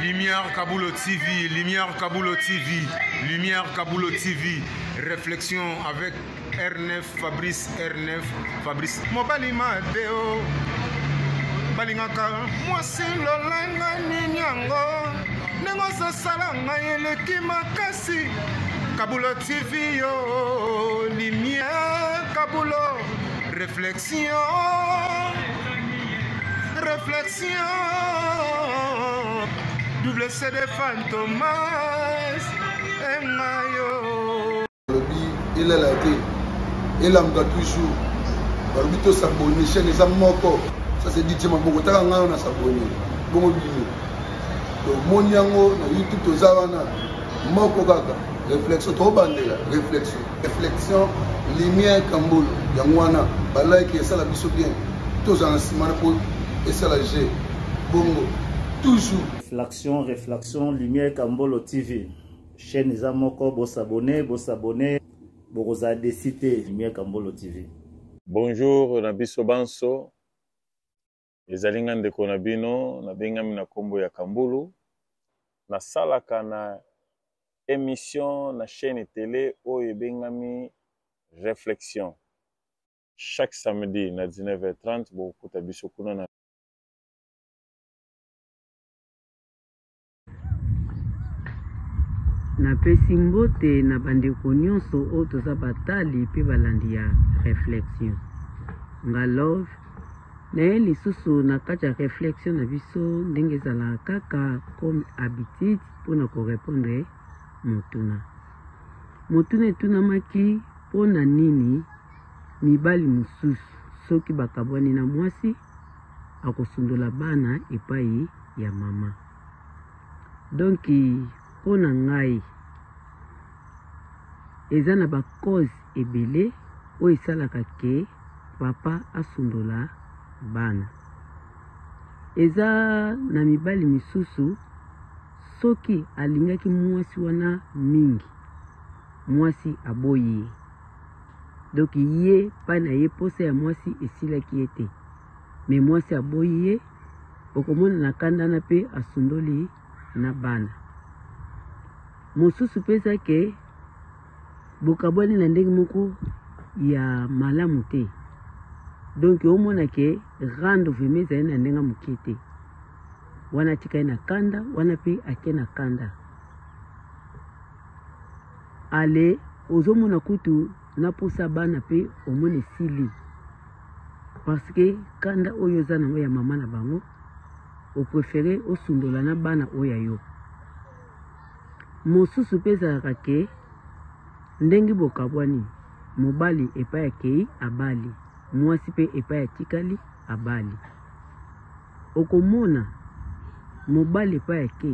Lumière Kabulo TV, Lumière Kabulo TV, Lumière Kabulo TV, réflexion avec R9, Fabrice R9, Fabrice. Mobali Mateo, balingaka mwasi lolanga nini yango ndenge ozosala ngai eleki makasi Kabulo TV yo, Lumière Kabulo, réflexion. Réflexion, double CD Fantomas, et Mayo. Il est là, il est là, toujours. balobi tosabone chaine eza moko ça c'est dit tima boko taka ngai na sabone bongo bino tomoni yango na youtube toza wana moko kaka réflexion tobandela réflexion reflexion lumière kambolo yango wana balike esala biso bien tozala na nsima na po esala je bongo toujours reflexion reflexion lumière kambolo tv chaîne eza moko bosabone bosabone bokozala desi te lumière kambolo tv bonjour na biso banso Ezali nga ndeko na bino nabengami na nkombo ya Kambulu, nasalaka na emission na chaîne tele oyo ebengami Reflexion. Chaque samedi na 19h30 bokokuta biso kuna na napesi mbote na bandeko nyonso oyo toza batali mpe balandi ya réflexion nga love naye lisusu na kati ya réflexion na biso ndenge ezalaka kaka comme habitude mpo na korepondre motuna motuna etunamaki mpo na nini mibali mosusu soki bakabwani na mwasi akosundola bana epai ya mama donc mpo na ngai eza na bacause ebele oyo esalaka ke papa asundola bana eza na mibali misusu soki alingaki mwasi wana mingi mwasi aboyi ye donk ye mpai na ye mposa ya mwasi esilaki ye te Mais mwasi aboyi ye okomona na kanda na pe asundoli na bana mosusu peza ke bokabwani na ndenge moko ya malamu te donc omona ke rando vrema ezali na ndenge moke te wana atika ye na kanda wana pe ake na kanda ale ozomona kutu na posa bana pe omona esili parce que kanda oyo oza nango ya mama na bango oprefere osundola na bana oyo ya yo mosusu mpe ezalaka ke ndenge bokabwani mobali epai akei abali mwasi mpe epai atikali abali Okomona mobali epai ake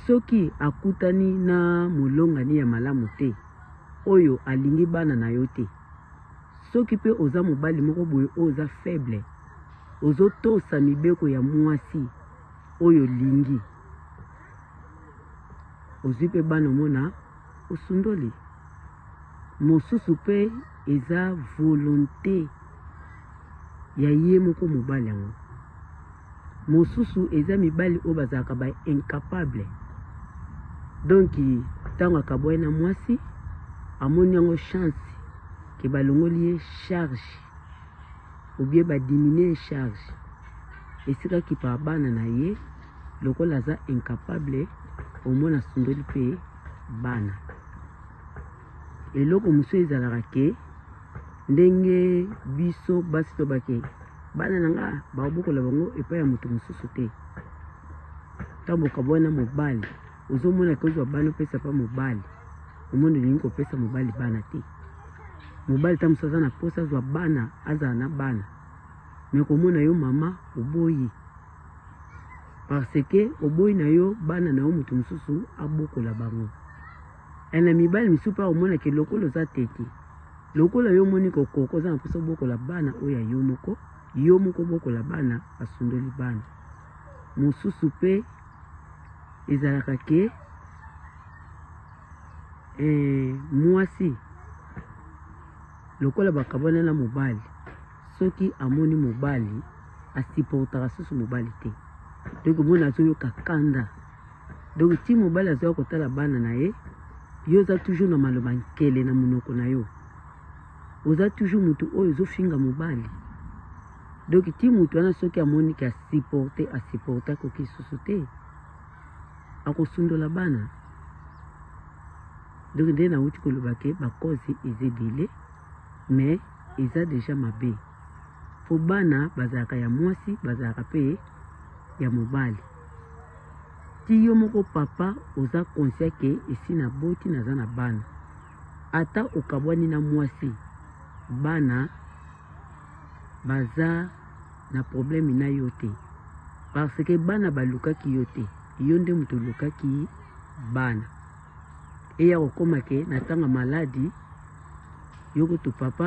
soki akutani na molongani ya malamu te oyo alingi bana na yo te. Soki mpe oza mobali moko boye oyo oza faible, ozotosa mibeko ya mwasi oyo olingi, ozwi mpe bana omona osundoli. Mosusu pe eza volonte ya ye moko mobali yango. Mosusu eza mibali oyo bazalaka ba incapable. Donc tango akaboye na mwasi amoni yango chance ke balongoli ye charge ou bien ba diminuer charge esika kipa bana na ye lokola aza incapable omona asundoli pe bana. eloko mosusu ezalaka ke ndenge biso basi tobake bana na nga baobokola bango epai ya moto mosusu te ntango bokabwana mobali ozomona ke ozwa bana opesa mpa mobali omoni olingi kopesa mobali bana te mobali ntango mosusu aza na mposa azwa bana azala na bana me komona yo mama oboyi parce que oboyi na yo bana na yo moto mosusu abokola bango Eh na mibali misusu mpe akomona ke lokola oza tete lokola yo omoni kokoka oza na mposa obokola bana oyo ya yo moko yo moko obokola bana basundoli bana mosusu mpe ezalaka ke eh, mwasi lokola bakabwana na mobali soki amoni mobali asiportaka susu mobali te donc omona azoyoka kanda Donc ti mobali azoya kotala bana na ye, yo oza toujours na maloba nkele na munoko na yo. Oza toujours mutu oyo ozofinga mobali. Donc ti mutu wana soki amoni ke asupporte, asupporte akoki lisusu te. Akosundola bana. Donc nde nauti koloba ke ba cause eza ebele mais eza deja mabe. Po bana bazalaka ya mwasi, bazalaka pe ya mobali. Ti yo moko papa oza conscient que esi na boti naza na bana ata okabwani na mwasi bana baza na problème na yo te parce que bana balukaki yo te yo nde moto olukaki bana eya kokoma ke na tanga maladi yo kutu papa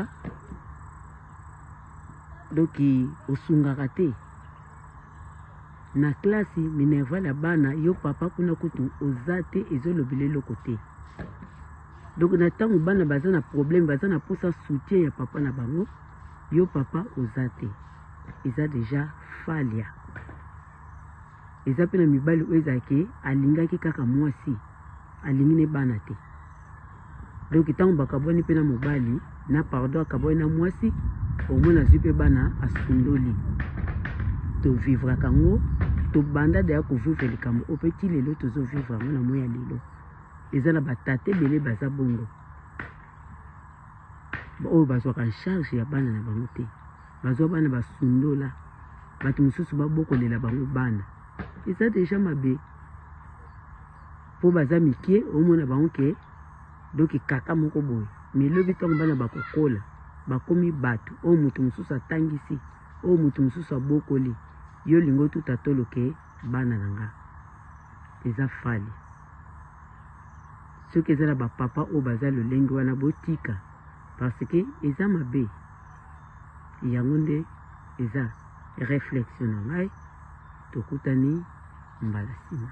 doki osungaka te Na classe minerval ya bana yo papa kuna kutu oza te ezo lobela eloko te donc na tango bana baza na problème baza na posa soutien ya papa na bango yo papa oza te eza deja falia eza mpe na mibali oyo ezalaki alingaki kaka mwasi alingi ne bana te donc ntango bakabwani mpe na mobali na pardon akabwani na mwasi omona azwi mpe bana asundoli tovivraka yango tobanda deya kovivre likambo oyo mpe ti lelo tozovivre yango na moi ya lelo eza na batata ebele baza bongo oyo bazwaka charge ya bana na bango te bazwa bana basundola bato mosusu babokolela bango bana eza deja mabe po baza mikie omona bango ke donc kaka moko boye mais lobi ntango bana bakokola bakomi bato oyo moto mosusu atangisi oyo moto mosusu abokoli yo olingi otuta tolo ke bana na nga eza fali soki eza na bapapa oyo baza lolenge wana botika parce que eza mabe yango nde eza réflexion na ngai tokutani mbala nsima